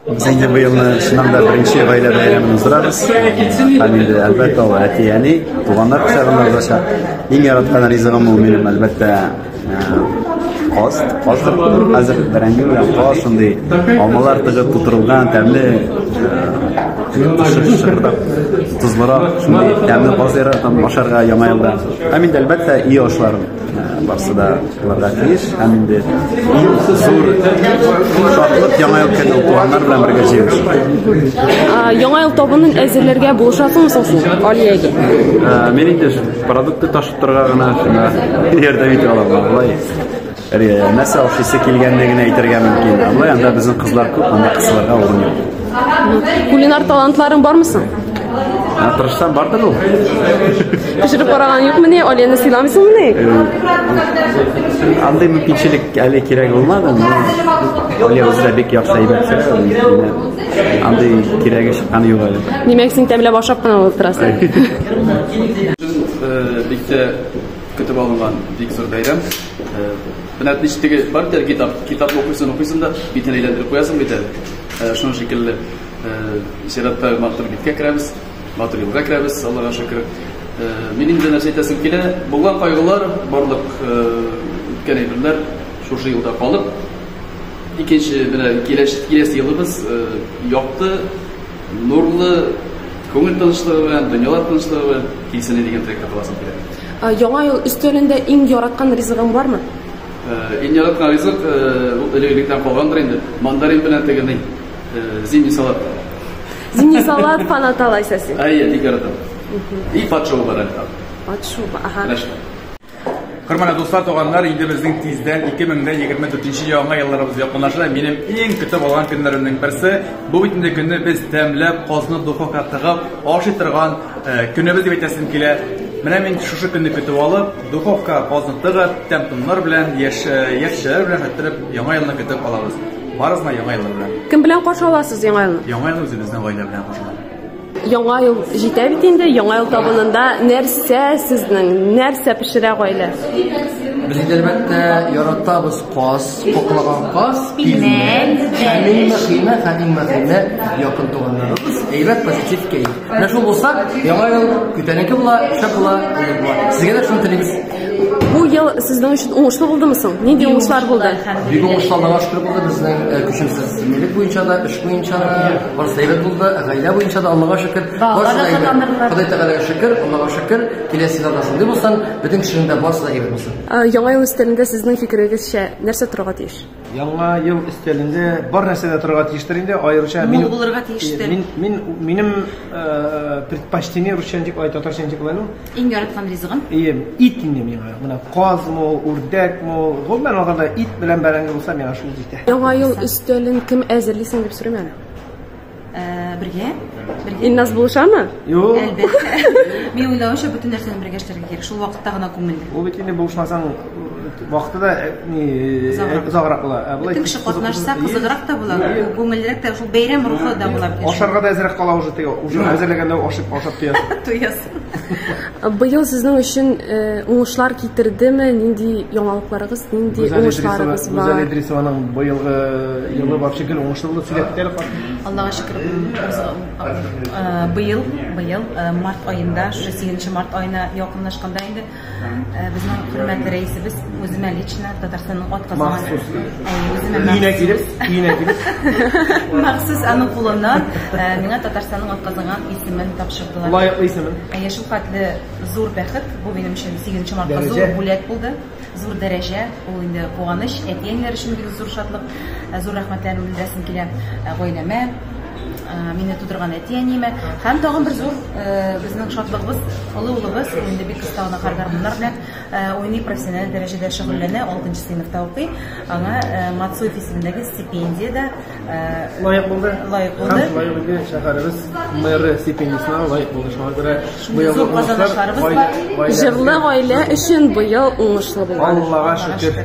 Без инде быелны чыннан да беренче гаилә бәйрәмен уздырабыз. Һәм инде әлбәттә ул әти әни, туганнар кочагында узачак. Иң яраткан ризыгым ул минем әлбәттә каз, каз хәзер бәрәңге белән каз шундый алмалар тыгып тутырылган тәмле шырдап тозлырак шундый тәмле каз яратам ашарга яңа елда. Һәм инде әлбәттә и ашларын. Барсы да кылырга тиеш һәм инде иң зур шатлык яңа ел көне туганнар белән бергә җыелышу. Яңа ел табынын әзерләргә булышасың соң сез Алиягә? Мин инде продукты ташып торырга гына ярдәм итә алам алай. Нәрсә ашыйсы килгәнлеген әйтергә мөмкин. Алай анда безнең кызлар күп, анда кызларга урын юк. Кулинар талантларың бармы соң? Ә тырышсам бардыр ул. Пешереп караган юкмы ни? Алияны сыйламыйсыңмы ни? Андый мөмкинчелек әле кирәк булмады, но Алия үзе дә бик яхшы әйбәт пешерә. Андый кирәге чыкканы юк әле. Димәк, син тәмләп ашап кына булып торасың. Бик тә көтеп алынган бик зур бәйрәм. Менә ничек бар дә китап, китап укыйсың, укыйсың да битен әйләндереп куясың бит әле. Шуның шикелле, чиратта матур биткә керәбез, матур юлга керәбез, Аллага шөкер. Мин инде нәрсә әйтәсем килә, булган кайгылар, барлык үткән әйберләр шушы юлда калып, икенче менә киләсе елыбыз якты, нурлы, күңел тынычлыгы белән, дөньялар тынычлыгы белән килсен дигән теләктә каласым килә. Яңа ел өстәлендә иң яраткан ризыгың бармы? Иң яраткан ризык ул элек-электән калгандыр инде, мандарин белән теге ни, зимний салат. Зимний салат, панат алайса син. Әйе, бик яратам. И патшоу бар әле. Патшоу, аха. Хөрмәтле дуслар, туганнар, инде безнең тиздән 2024 яңа елларыбыз якынлаша. Минем иң көтеп алган көннәремнең берсе, бу бит инде көнне без тәмләп, казны духовка тыгып, ашый торган көнебез дип әйтәсем килә. Менә мин шушы көнне көтеп алып, Духовка бозны тыгып, тәм-томнар белән, яшь яшьләр белән хәтерләп, яңа елны көтеп алабыз. Барызына яңа елны белән. Кем белән каршы аласыз яңа елны? Яңа елны үзебезнең гаилә белән каршы алабыз. Яңа ел җитә бит инде, яңа ел табынында нәрсә сезнең, нәрсә пешерә гаилә? Без инде әлбәттә яратабыз каз, коклаган каз, пилмән, һәм иң мөһиме, һәм иң мөһиме, якын туганнарыбыз әйбәт позитив кәеф. Менә шул булса, яңа ел көтәнеке була, шәп була, әйбәт була. Сезгә дә шуны телибез. Бу ел сезнең өчен уңышлы булдымы соң? Нинди уңышлар булды? Бик уңышлы Аллага шөкер булды безнең э, көчемсез милек буенча да, эш буенча да, барысы да әйбәт булды, гаилә буенча да Аллага шөкер. Барысы да әйбәт. Ходай Тәгаләгә шөкер, Аллага шөкер. Киләсе елда да шундый булсын, бөтен кешенең дә барысы да әйбәт булсын. Ә, Яңа ел өстәлендә сезнең фикерегезчә нәрсә торырга тиеш? Яңа ел өстәлендә бар нәрсә дә торырга тиештер инде, аеруча мин булырга тиештер. Мин мин минем э, предпочтение русча дип ай татарча дип кылай ну. Иң яраткан ризыгым. Ием, ит инде миңа. Менә казмы, үрдәкме, гомумән алганда ит белән бәрәңге булса миңа шул җитә. Яңа ел өстәлен кем әзерли соң дип сорыйм әле. бергә бергә Илназ булышамы? Юк. Әлбәттә. Мин уйлавымча бөтен нәрсәне бергә эшләргә кирәк. Шул вакытта гына күңелле. Ул бит инде булышмасаң вакыты да э, ни э, озаграк була. Ә былай кеше катнашса кызыграк та була, күңеллерәк тә, шул бәйрәм рухы да була. Ашарга да әзрәк кала уже теге, уже әзерләгәндә ашап ашап туясың. Туясың. Быел сезнең өчен э, уңышлар китердеме? Нинди яңалыкларыгыз, нинди уңышларыгыз бар? Гүзәл Идрисованың быелгы елы вообще гел уңышлы булды сөйләптер. Аллага шөкер, э, быел, быел э, март аенда, 8 март аена якынлашканда инде Безнең хөрмәтле рәисебез үземә лично Татарстанның атказанган Махсус. Әйе, үземә Өенә махсус. килеп, өенә килеп. Махсус аның кулыннан э, миңа Татарстанның атказанган исемен тапшырдылар. Лаеклы исемен. Әйе, шул хәтле зур бәхет. Бу минем өчен 8 мартта Дәрәҗә. зур бүләк булды. Зур дәрәҗә, ул инде куаныч, әти-әниләр өчен бик зур шатлык. Э, Зур рәхмәтләрен белдерәсем килә э, гаиләмә, Мине тудырган әти-әниемә һәм тагын бер зур безнең шатлыгыбыз, олы улыбыз инде бик оста гына гармуннар белән уйный, профессиональ дәрәҗәдә шөгыльләнә, алтынчы сыйныфта укый. Аңа Мацуев исемендәге стипендия дә лаек булды. Лаек булды. Һәм лаек булды шәһәребез мэры стипендиясенә лаек булды. Шуңа күрә быел зур казанышларыбыз бар. Җырлы гаилә өчен быел уңышлы булган. Аллага шөкер.